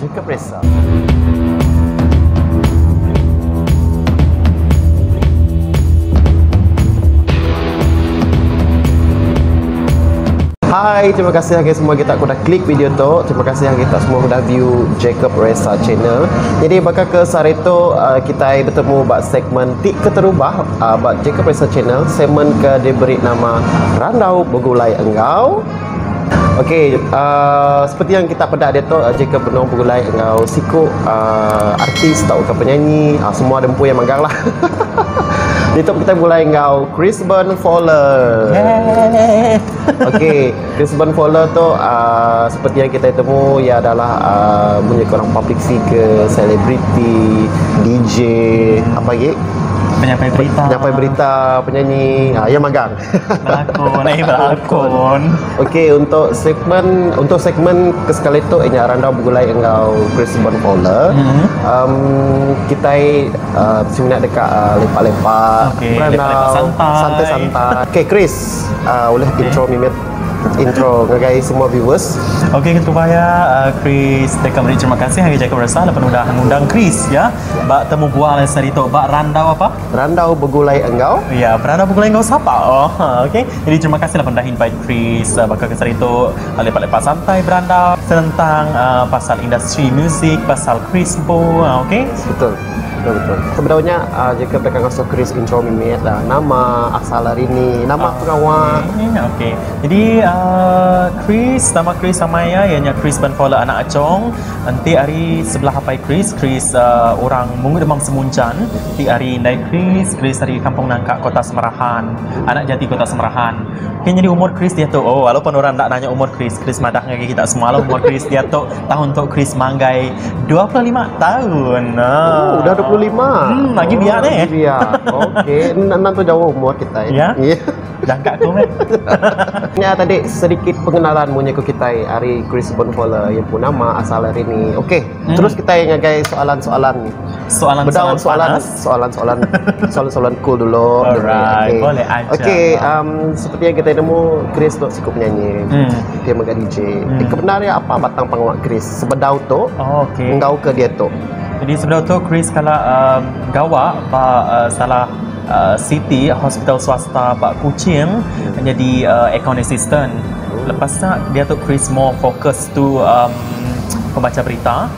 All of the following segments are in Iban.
Jacob Ressa. Hai terima kasih agak semua kita kuda klik video tu terima kasih yang kita semua kuda view Jacob Ressa channel jadi baka ke sehari tu uh, kita bertemu ba segmen ti keterubah uh, ba Jacob Ressa channel segmen ke diberi nama Randau Begulai Enggau Ok aaa seperti yang kita peda diatu jika benung begulai enggau siku aaa artis tauka penyanyi aaa semua da empu iya meganglah hahaha diatu kita begulai enggau Chrisben Fowler hehehe ok Chrisben Fowler tu aaa seperti yang kitai temu iya adalah aaa munyi ku orang public figure selebriti DJ apa agi penyampai berita penyanyi aaa iya megang. Belakon, eh belakon. Okey, untuk segmen untuk segmen ke sekali tu inya randau begulai enggau Chris Bon Fowler. Mm-hmm. Um, kita uh, semina deka uh, lepak-lepak, okay, berandau, lepak-lepak santai. santai-santai. Okey, Chris, uh, boleh okay. intro mimit intro ngagai semua viewers. Okey kita baya uh, Chris teka beri terima kasih hari jaga berasa lepas udah ngundang Chris ya. Ba temu buah lain sari tu ba randau apa? Berandau begulai enggau. Ya, berandau begulai enggau sapa? Oh, ha, okey. Jadi terima kasihlah pendah invite Chris uh, baka kesar itu uh, lepak-lepak santai berandau tentang uh, pasal industri muzik, pasal Chris Bo, uh, okey. Betul. Betul betul. Sebenarnya uh, jika mereka ngasuh Chris intro mimit uh, nama asal hari ni, nama uh, pengawa. Okey. Okay. Jadi uh, Chris, nama Chris sama ya, ianya Chris Benfola anak Acong. Nanti hari sebelah apai Chris, Chris uh, orang Mungu Demam Semuncan. Ti ari indai Chris, Chris ari Kampung Nangka Kota Semerahan, anak jati Kota Semerahan. Pi nyadi umur Chris diatu? Oh lalu pan orang enda nanya umur Chris, Chris madah ngagai kita semua lalu umur Chris diatu tahun tu Chris manggai dua puluh lima tahun. Oh udah dua puluh lima. Hmm agi biak oh, neh. Biak. Okey, nang tu jauh umur kita. Ya. Yeah. Yeah. Jangka aku meh. ya tadi sedikit pengenalan munyi ku kita hari Chris Bonfola yang pun nama asal hari ni. Okey, hmm. terus kita ngagai soalan-soalan soalan bedau soalan soalan soalan soalan soalan cool dulu alright boleh aja okey um, seperti yang kita nemu Chris tu cukup nyanyi hmm. dia mega DJ hmm. eh, kebenaran dia apa batang pengawa Chris sebedau tu oh, okay. enggau ke dia tu jadi sebedau tu Chris kala uh, gawa ba uh, salah uh, city hospital swasta ba Kuching hmm. menjadi uh, account assistant oh. lepas tu dia tu Chris more fokus tu um, pembaca berita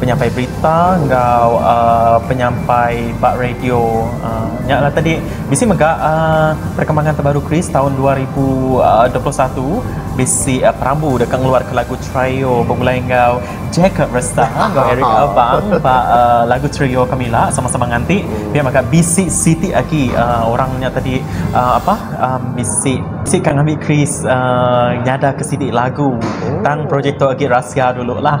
penyampai berita enggau aaa penyampai ba radio aaa nya lah tadi bisi mega aaa perkembangan terbaru chris taun dua ribu dua puluh satu bisi perambu deka ngeluarka lagu chrio begulai enggau jacob restah enggau eric abang ba aaa lagu chrio ke mila sama sama nganti pia mega bisi siti agi aaa orang nya tadi aaa apah aaa bisi bisi ka ngambi chris aaa nyadarka sidi lagu tang projek tu agi rahsia dulu lah.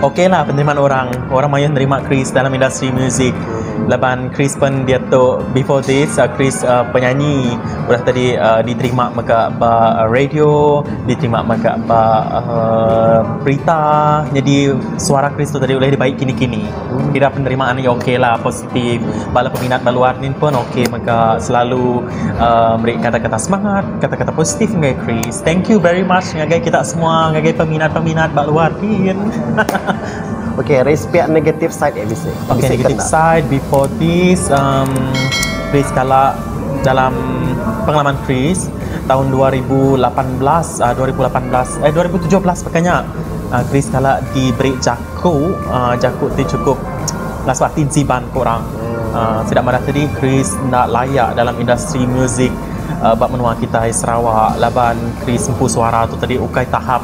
Okey lah penerimaan orang. Orang mayuh nerima Chris dalam industri muzik. Laban Chris pen diatu before this uh, Chris uh, penyanyi udah tadi uh, diterima mega ba uh, radio, diterima mega ba uh, berita. Jadi suara Chris tu tadi ulih dibai kini-kini. Kira penerimaan ni okey lah. Ti bala peminat ba luar nin pun ok mega selalu aaa meri kata kata semangat kata kata positif ngagai Chris thank you very much ngagai kita semua ngagai peminat peminat ba luar kin hahaha. Ok Ris pia negatif side eh bisi bisi kena. Ok negatif side before this amm Chris kala dalam pengalaman Chris taun dua ribu lapan belas aaa dua ribu lapan belas eh dua ribu tujuh belas baka nya aaa Chris kala diberi jaket Ku jaku ti chukup ngasuh ati enti baan ku orang. Sida madah tadi Chris enda laya dalam industri musik ba menua kitai Sarawak laban Chris empu suara tu tadi ukai tahap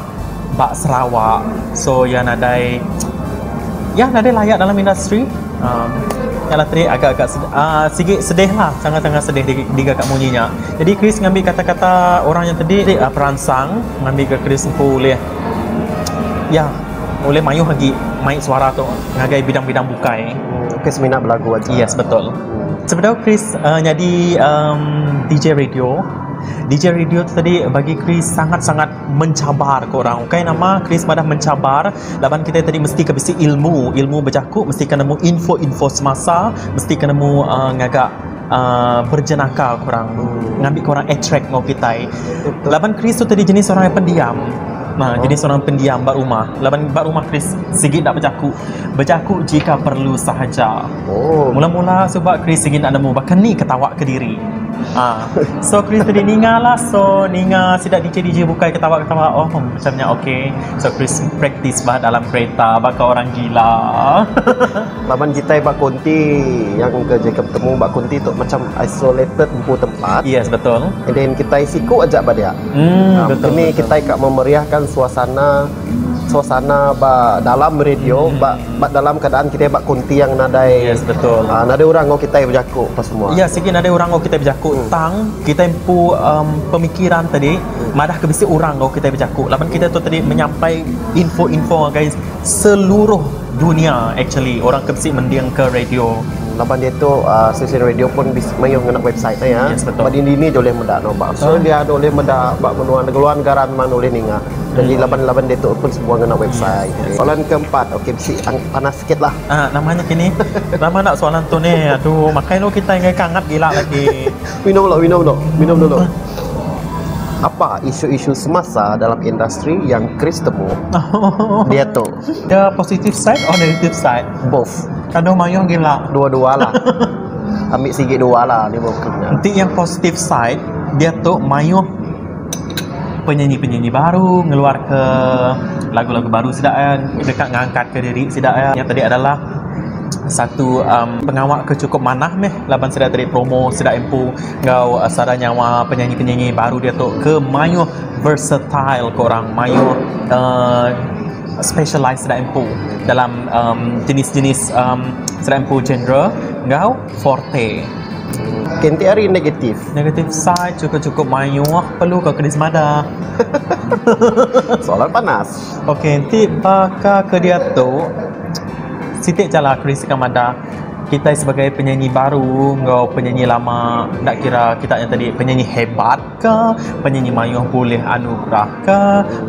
ba Sarawak so iya nadai iya nadai laya dalam industri uhh nya lah tadi agak agak uhh sigi sedih lah sangat sangat sedih diga ka munyi nya. Jadi Chris ngambi kata kata orang nya tadi peransang ngambi ga Chris empu ulih iya. Ulih mayuh agi mai suara tu ngagai bidang-bidang bukai. Hmm, Chris minat belagu aja. Yes, betul. Sebedau Chris uh, nyadi um, DJ radio, DJ radio tu tadi bagi Chris sangat-sangat mencabar ke orang. Ukai nama Chris madah mencabar laban kita tadi mesti ke bisi ilmu, ilmu bejaku mesti ke nemu info-info semasa, mesti ke nemu uh, ngaga aaa berjenaka ku orang tu ngambi ku orang attract enggau kitai laban Chris tu tadi jenis orang yang pendiam meh jenis orang pendiam ba rumah laban ba rumah Chris sigi enda bejaku bejaku jika perlu sahaja mula mula suba Chris sigi enda nemu baka ni ke tawa kediri aaa so Chris tadi ninga lah so ninga sida DJ DJ bukai ketawa ketawa oh macam nya ok so Chris practice bah dalam kereta baka orang gila. Laban kitai ba konti iya engka jaga betemu ba konti tu macam isolated empu tempat. Yes betul. And then kitai siku aja ba dia. Hmm um, betul. Kini kitai ka memeriahkan suasana suasana ba dalam radio hmm. ba ba dalam keadaan kitai ba konti yang nadai yes betul uh, nadai orang ngau kitai bejaku apa semua ya sigi nadai orang ngau kitai bejaku hmm. tang kitai empu um, pemikiran tadi hmm. madah ke bisi orang ngau kitai bejaku laban kita tu tadi menyampai info-info ngagai seluruh Dunya actually orang ke bisi mending ke radio. Laban diatu stesen radio pun mayuh ngena website ne iya. Ba dini-dini aja ulih meda ne ba Australia ne ulih meda ba menua luar negara memang ulih ninga. Jaji laban-laban diatu pun semua ngena website. Soalan ke empat ok bisi panas sikit lah. Aa nama nya kini. Lama enda soalan tu ni. Aduh makai lalu kitai ngagai ke angat gila lagi. Minum lalu minum lalu minum dulu. Apa isu-isu semasa dalam industri yang Chris temu diatu? The positive side or negative side? Both. Kado mayuh gila. Dua-dua lah. Ambil sigi dua lah ni buku nya. Enti yang positive side, dia tu mayuh penyanyi-penyanyi baru ngeluar ke lagu-lagu baru sida eh deka ngangkat ke diri sida eh. Yang tadi adalah satu um, pengawa ke cukup manah meh laban sida tadi promo sida empu enggau uh, sada nyawa penyanyi-penyanyi baru dia tu ke mayuh Versatile ke orang mayuh uhh specialise sida empu dalam uhh jenis-jenis uhh sida empu genre enggau forte. Kenti ari negatif. Negatif side chukup-chukup mayuh perlu ka kedi semada. Soalan panas. Okey enti baka ke diatu siti chala keri sekam madah kitai sebagai penyanyi baru enggau penyanyi lama enda kira kita nya tadi penyanyi hebat. ka penyanyi mayuh bulih anu gerah ka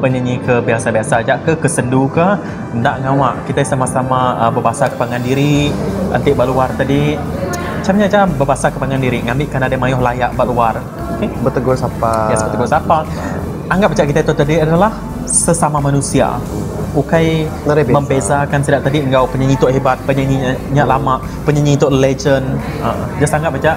penyanyi ke biasa-biasa aja ke ke sendu ka enda ngawa kitai sama-sama bebasa ke pangan diri enti ba luar tadi macam nya aja bebasa ke pangan diri ngambi ke nadai mayuh laya ba luar okey betegur sapa yes betegur sapa anggap aja kitai tu tadi adalah sesama manusia ukai membeza kan sida tadi enggau penyanyi tu hebat penyanyi nya lama penyanyi tu legend aa just anggap aja.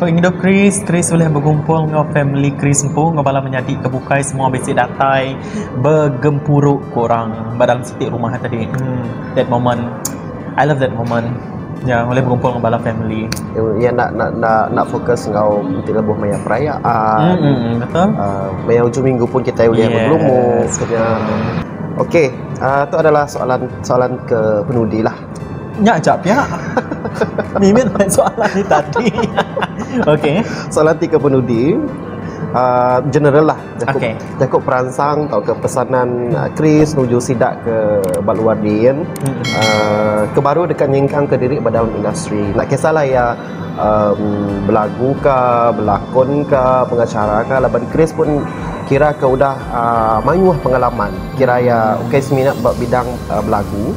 Pengidup Chris, Chris ulih begumpul enggau famili Chris empu enggau bala menyadi ke bukai semua bisi datai begempuru ku orang ba dalam siti rumah tadi. Emm that moment I love that moment ya ulih begumpul enggau bala famili. Iya enda enda enda enda fokus enggau enti lebuh maya perayaan. Mm betul. Uh, maya ujung minggu pun kitai ulih yes. bergelumur. Okey, uh, tu adalah soalan soalan ke penudi lah. Nya aja pia. Mimit main soalan di tadi. Okey. Soalan ti ke penudi uh, general lah jaku okay. jaku peransang atau ke pesanan uh, Chris nuju sida ke baluar din hmm. uh, ke baru dekat nyingkang ke diri dalam industri nak kisahlah ya um, belagu ke belakon ke pengacara ke laban Chris pun kira ke udah uh, mayuh pengalaman kira ya okay semina bidang uh, belagu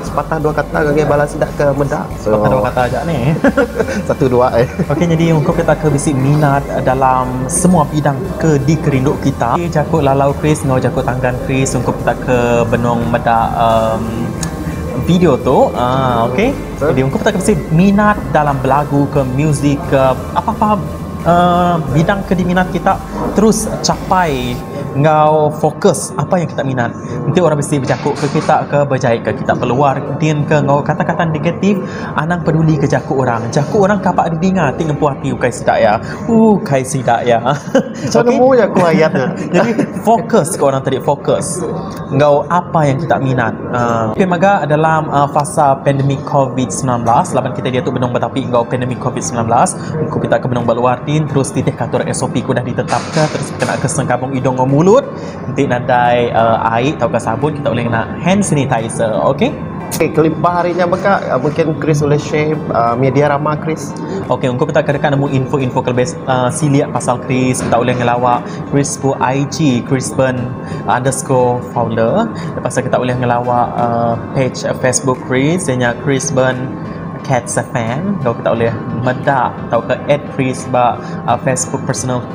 Sepatah dua kata ngagai bala sida ke meda. Sepatah dua kata aja ni. Satu dua ai. Okey nyadi ungkup kita ke bisi minat dalam semua bidang ke dikerindu kita. Jaku lalau Chris enggau jaku tanggan Chris ungkup kita ke benung meda um video tu. Uh okey. Jadi ungkup kita ke bisi minat dalam belagu ke muzik ke apa-apa uh bidang ke diminat kita terus capai enggau fokus apa yang kita minat. Enti orang bisi bejaku ke kita ke bejaie ke kita keluar entin ke enggau kata-kata negatif anang peduli ke jaku orang. Jaku orang kapa didinga ti ngempu ati ukai sida iya. Ooh kai sida iya. Isa nemu ya aku ayat nya. Jadi fokus ke orang tadi fokus enggau apa yang kita minat. Uh, okay, mega dalam uh, fasa pandemik COVID-19 laban kita dia tu benung betapi enggau pandemik COVID-19 ku kita ke benung beluar tin terus titih katur SOP ku dah ditetapka terus kena ke sengkabung idung enggau mulut Enti nadai ai tauka sabun kita ulih ngena hand sanitizer ok. Okey kelipah ari nya mega mungkin Chris ulih share media rama Chris. Okey engku peda ke deka nemu info-info ke lebih silik pasal Chris kita ulih ngelawa Chris ku IG chrisburn underscore founder lepas tu kita ulih ngelawa page facebook Chris iya nya chrisburn cats fm lalu kita ulih meda tauka add Chris ba facebook personal.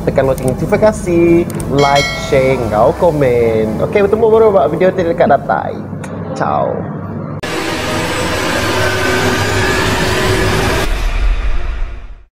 Tekan lonceng notifikasi, like, share enggau komen. Okey, bertemu baru ba video ti deka datai. Ciao.